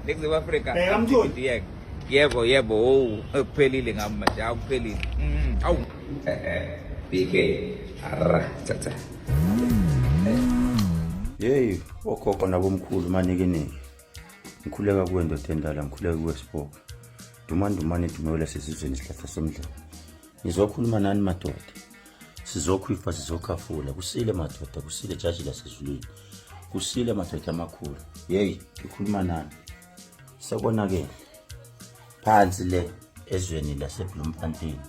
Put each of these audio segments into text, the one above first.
Ningizimu Afrika. Bheka mtholi. Yebo yebo owu ekuphelile ngami manje akuphelile. Mm, awu. BK. Arra cha cha. Yeyi okhokho nabomkhulu manikiniki. Ngikhuleka kuwe ndoda endala ngikhuleka kuwe siboko. Dumandumane dumewela sesizweni isihlahla somdlalo. Ngizokhuluma nani madoda. sizokhwifa sizokhafula kusile madoda kusile jaji lasezulwini kusile madoda amakhulu yeyi ngikhuluma nani sekonakele phansi le ezweni lasebloemfontein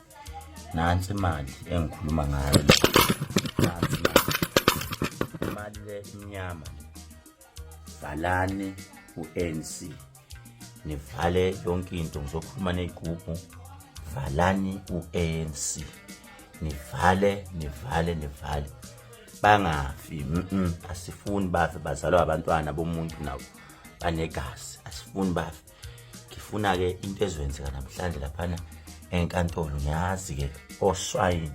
nansi imali engikhuluma ngayo nansi imali imali le imnyama valani u-anc nivale yonke into ngizokhuluma ney'gubhu valani u-anc nivale nivale nivale bangafi mm -mm. asifuni bafe bazalwa abantwana bomuntu nabo banegazi asifuni bafe ngifuna-ke into ezoyenzeka namhlanje laphana enkantolo ngiyazi-ke oshwayini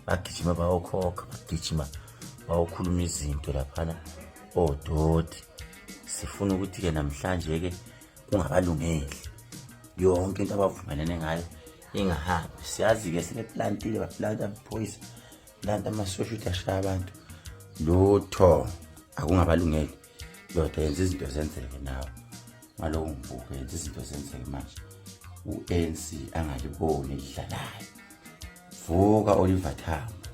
bagijima bayokhokha bagijima bayokhuluma izinto laphana odoti sifuna ukuthi-ke namhlanje-ke kungabalungeli yonke into abavumelene ngayo ingahambi siyazi-ke sebeplantile baplanta amaphoyisa planta amasosha ukuthi ashaya abantu lutho akungabalungeli ndoda yenza izinto zenzeke nawe ngalowo mvuko yenza izinto zenzeke manje u-anc angaliboni elidlalayo vuka oliver tambo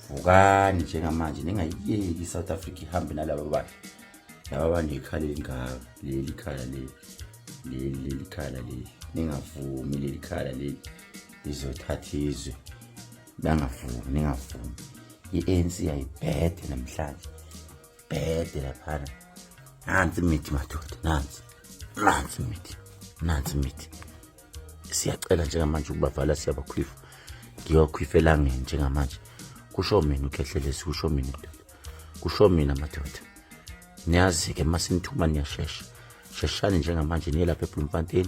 vukani njengamanje ningayiyeki i-south africa ihambe nalaba bakhe laba banekhala elingaka leli khala leli leli leli khala leli ningavumi leli khala leli lizothatha izwe bangavumi ningavumi i-anc yayibhede namhlanje bhede laphana nansi imithi madoda nansi nansi imithi nansi imithi siyacela njengamanje ukubavala siyabakhwifa ngiyokhwifa elangeni njengamanje kusho mina ukhehlelesi kusho mina kusho mina madoda niyazi-ke uma sinithuma niyashesha sheshani njengamanje niye lapha ebloemfontein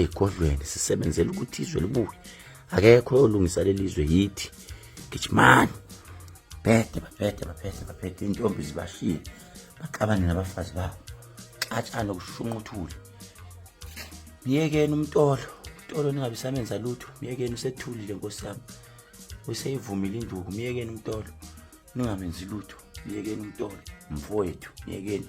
ey'godlweni sisebenzela ukuthi izwe libuye akekho oyolungisa leli zwe yithi gijimani baphethe baphethe baphethe baphethe intombi zibashile baxabane nabafazi babo xatshane okushunquthule myekeni umtolo umtolo ningabe samenza lutho myekeni usethulile nkosi yami useyivumile induku myekeni umtolo ningamenzi lutho myekeni umtolo mfowethu myekeni